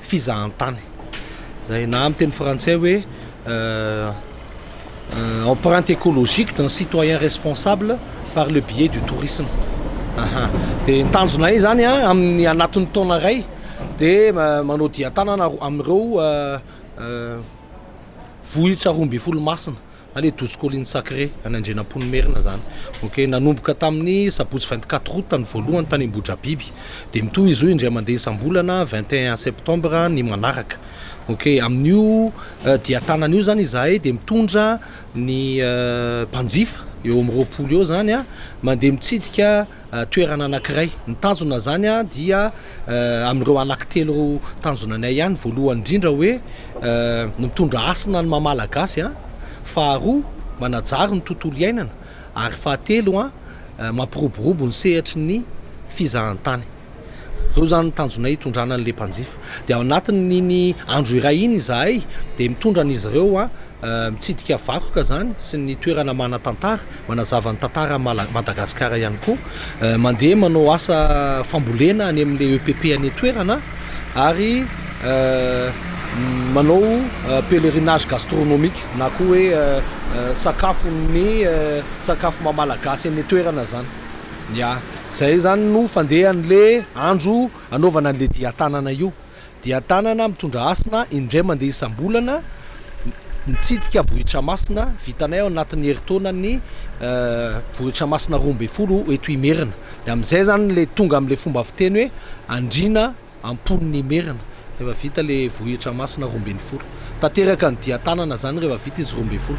fizahantany, izay na amin'ny teny frantsay hoe empreinte ecologique d'un citoyen responsable par le biais du tourisme. Aha. Dia ny tanjonay izany a, amin'ny anatin'ny taona iray dia manao dian-tanana amin'ireo vohitra roa ambin'ny folo masina. Allez douze collines sacrées any Andrianampoinimerina zany ok nanomboka tamin'ny sabotsy vingt quatre août ny voalohany tany Ambohidrabiby dia mitohy izy io indray mandeha isam-bolana vingt et un septembre ny manaraka ok amin'io euh, dia tanana io zany izahay dia mitondra ny euh, mpanjifa eo amin'ny roapolo eo zany a mandeha mitsidika toerana anankiray. Ny tanjona zany dia amin'ireo anaky telo ireo tanjona anay ihany, voalohany indrindra hoe ny mitondra hasina ny maha Malagasy an, faharoa manajary ny tontolo iainana ary fahatelo an mampiroborobo ny sehatry ny fizahantany. Ireo izany ny tanjonay hitondrana an'ilay mpanjifa. Dia ao anatin'iny andro iray iny izahay dia mitondra an'izy ireo mitsidika vakoka izany sy ny toerana manan-tantara, manazava ny tantaran'i Mala- Madagasikara ihany koa. Eh, Mandeha manao asa fambolena any amin'ilay EPP any an-toerana ary eh, mm, manao eh, pèlerinage gastronomique na koa hoe eh, eh, sakafon'ny eh, sakafo maha-malagasy eny an-toerana izany. Ya, zay zany no fandehan'le andro anaovana an'le dian-tanana io. Dian-tanana mitondra hasina indray mandeha isam-bolana, mitsidika vohitra masina, vitanay ao anatin'ny herintaona ny vohitra masina roa ambin'ny folo eto Imerina. De amin'izay zany le tonga amin'le fomba fiteny hoe andriana am-pon'ny Imerina rehefa vita le vohitra masina roa ambin'ny folo. Tanteraka ny dian-tanana zany rehefa vita izy roa ambin'ny folo.